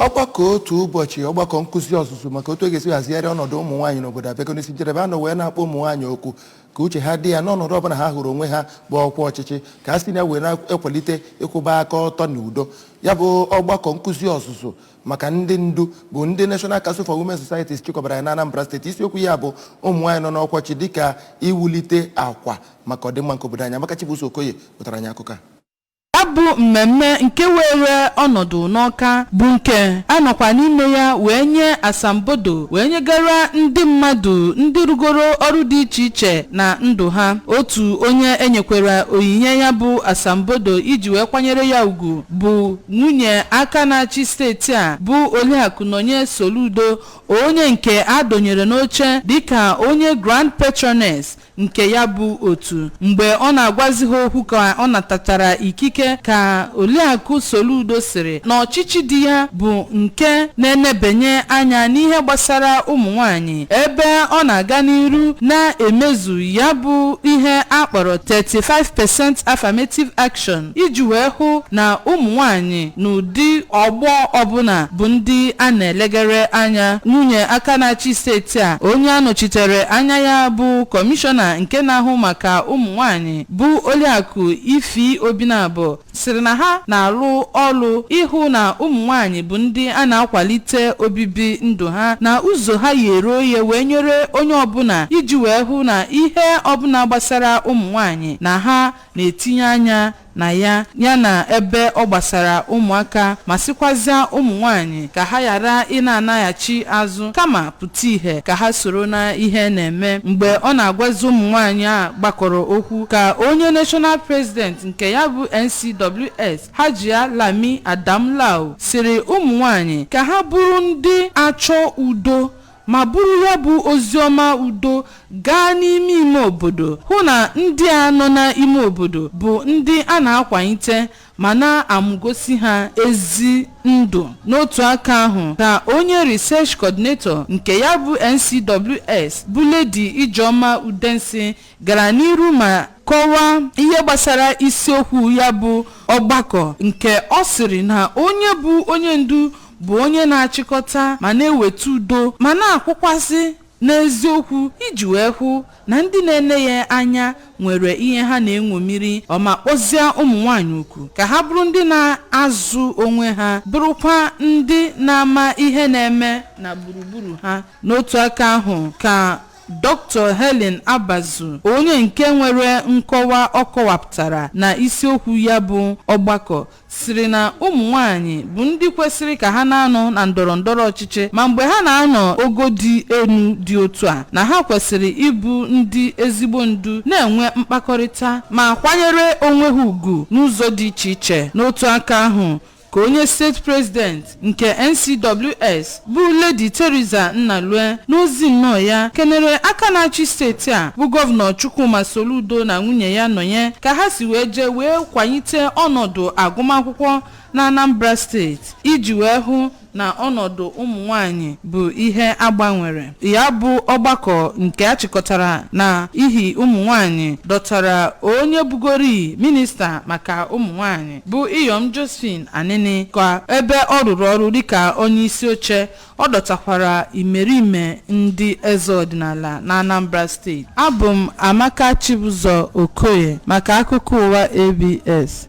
ọgbakọ otu ụbọchị ọgbakọ nkụzi ọzụzụ maka otu e ga-esi hazigharị ọnọdụ ụmụ nwaanyị n'obodo abịago n'isi njedebe a nọ wee na-akpọ ụmụ nwaanyị oku ka uche ha dị ya n'ọnọdụ ọbụla ha hụrụ onwe ha bụ ọkwa ọchịchị ka ha si na ya wee na-ekwalite ịkwụba aka ọtọ na udo ya bụ ọgbakọ nkụzi ọzụzụ maka ndị ndu bụ ndị National Council for Women Societies chịkọbara ya na Anambra steeti isiokwu ya bụ ụmụ nwaanyị nọ n'ọkwachi dịka iwulite akwa maka ọdịmma nke obodo anyị Amaka Chibuzo Okoye wetara anyị akụkọ a Ya bụ mmemme nke weere ọnọdụ n'Awka bụ nke a nọkwa n'ime ya wee nye asambodo wee nyegara ndị mmadụ ndị rụgoro ọrụ dị iche iche na ndụ ha. Otu onye e nyekwara onyinye ya bụ asambodo iji wee kwanyere ya ugwu bụ nwunye aka na-achị steeti a bụ Oliakụ Nonye Soludo onye nke a dọnyere n'oche dịka onye Grand Patroness nke ya bụ otu mgbe ọ na-agwazi ha okwu ka ọ natachara ikike ka Oliakụ Soludo sịrị na ọchịchị di ya bụ nke na-enebanye anya n'ihe gbasara ụmụ nwanyị ebe ọ na-aga n'iru na-emezu ya bụ ihe a kpọrọ 35% affirmative action iji wee hụ na ụmụ nwanyị n'ụdị ọgbọ ọbụna bụ ndị a na-elegara anya. Nwunye aka na-achị steeti a, onye a nọchitere anya ya bụ Kọmishọna nke na-ahụ maka ụmụnwaanyị bụ Oliakụ Ify Obinabo sịrị na ha na-alụ ọlụ ịhụ na ụmụnwaanyị bụ ndị a na-akwalite obibi ndụ ha na ụzọ ha yere oye wee nyere onye ọbụna iji wee hụ na ihe ọbụna gbasara ụmụnwaanyị na ha na-etinye anya na ya ya na ebe ọ gbasara ụmụaka ma sịkwazịa ụmụ nwaanyị ka ha ghara ịna-anaghachi azụ kama pụta ihe ka ha soro na ihe na-eme mgbe ọ na-agwazi ụmụ nwaanyị a gbakọrọ okwu ka onye national president nke ya bụ NCWS Hajia Lami Adamu Lau sịrị ụmụ nwaanyị ka ha bụrụ ndị achọ udo ma buru ya bụ oziọma udo gaa n'ime ime obodo, hụ na ndị a nọ n'ime obodo bụ ndị a na-akwalite ma na-amụgosi ha ezi ndụ. N'otu aka ahụ, ka onye Research Coordinator nke ya bụ NCWS bụ Lady Ijeoma Udensi gara n'iru ma kọwaa ihe gbasara isiokwu ya bụ ọgbakọ nke ọ sịrị na onye bụ onye ndu bụ onye na-achịkọta ma na-eweta udo ma na-akwụkwasị n'eziokwu iji wee hụ na ndị na-ene ya anya nwere ihe ha na-eṅomiri ọma kpọzie ụmụ nwaanyị oku ka ha bụrụ ndị na-azụ onwe ha bụrụkwa ndị na-ama ihe na-eme na gburugburu ha n'otu aka ahụ ka Dr. Helen Abazu, onye nke nwere nkọwa ọ kọwapụtara na isiokwu ya bụ ọgbakọ, sịrị na ụmụ nwaanyị bụ ndị kwesịrị ka ha na-anọ na ndọrọ ndọrọ ọchịchị ma mgbe ha na-anọ ogo dị elu dị otu a na ha kwesịrị ịbụ ndị ezigbo ndu na-enwe mkpakọrịta ma kwanyere onwe ha ugwu n'ụzọ dị iche iche n'otu aka ahụ ka onye steeti president nke NCWS bụ Lady Theresa Nnalue n'ozi nnọọ ya kenere aka na-achị steeti a bụ gọvanọ Chukwuma Soludo na nwunye ya Nonye ka ha si wee jee wee kwanyite ọnọdụ agụmakwụkwọ na Anambra steeti iji wee hụ na ọnọdụ ụmụ nwanyị bụ ihe a gbanwere ya bụ ọgbakọ nke a chịkọtara na ihi ụmụ nwanyị dọtara onye bugori minista maka ụmụ nwanyị bụ Iyom Josephine Anenih ka ebe ọ rụrụ ọrụ dịka onye isi oche ọ dọtakwara imerime ndị eze ọdịnala na Anambra steeti. Abụ m Amaka Chibuzor Okoye maka akụkọ ụwa ABS.